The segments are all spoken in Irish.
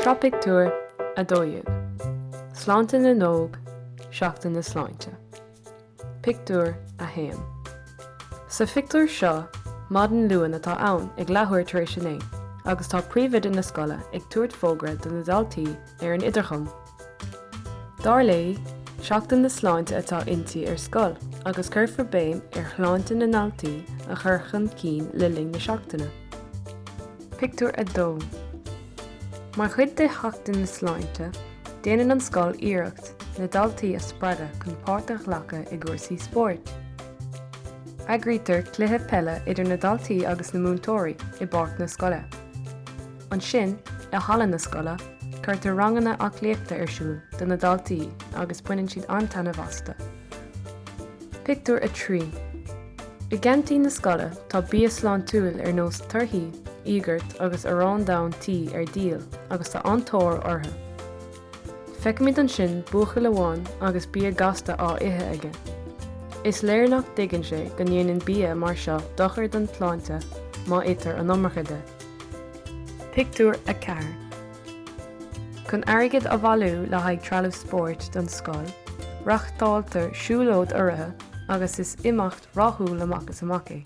Seo pictiúr a dó dhéag. Sláinte na nÓg, Seachtain na Sláinte. Pictiúr a haon. Sa phictiúr seo, maidin Luain atá ann, ag leathuair tar éis a naoi, agus tá príomhoide na scoile ag tabhairt fógra do na daltaí ar an idirchum. Dar léi, Seachtain na Sláinte atá inti ar scoil agus cuirfear béim ar shláinte na ndaltaí a chur chun cinn le linn na seachtaine. Pictiúr 2 Mar chuid de Sheachtain na Sláinte, déanann an scoil iarracht na daltaí a spreagadh chun páirt a ghlacadh i gcúrsaí spóirt. Eagraítear cluiche peile idir na daltaí agus na múinteoirí i bpáirc na scoile. Ansin, i halla na scoile, cuirtear ranganna aclaíochta ar siúl do na daltaí agus baineann siad an-taitneamh astu. Pictiúr 3 I gceaintín na scoile tá bia sláintiúil ar nós torthaí, íogart agus arán donn tí ar díol agus tá an-tóir orthu. Feicimid ansin buachaill amháin agus bia gasta á ithe aige. Is léir nach dtuigeann sé go ndéanann bia mar seo dochar don tsláinte má itear an iomarca de. Pictiúr 4 Chun airgead a bhailiú le haghaidh trealamh spóirt don scoil, reáchtáltear siúlóid urraithe agus is imeacht rathúil amach is amach é.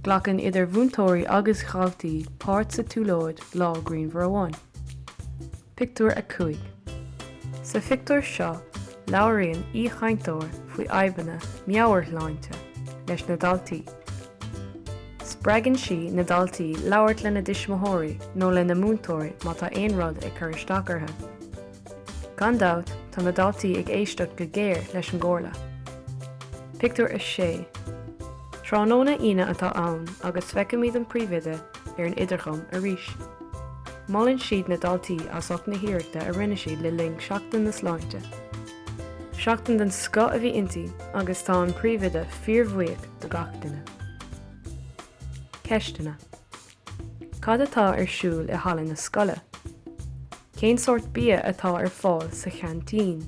Glacann idir mhúinteoirí agus dhaltaí páirt sa tsiúlóid lá grianmhar amháin. Pictiúr 5 Sa phictiúr seo, labhraíonn aoichainteoir faoi fhadhbanna meabhairshláinte leis na daltaí. Spreagann sí na daltaí labhairt lena dtuismitheoirí nó lena múinteoirí má tá aon rud ag cur isteach orthu. Gan dabht, tá na daltaí ag éisteacht go géar leis an gcomhairle. Pictiúr 6 Tráthnóna Aoine atá ann agus feicimid an príomhoide ar an idirchum arís. Molann siad na daltaí as ucht na hiarrachta a rinne siad le linn Sheachtain na Sláinte. Seachtain den scoth a bhí inti agus tá an príomhoide fíorbhuíoch do gach duine. Ceisteanna. Cad atá ar siúl i halla na scoile? Cén sórt bia atá ar fáil sa cheaintín?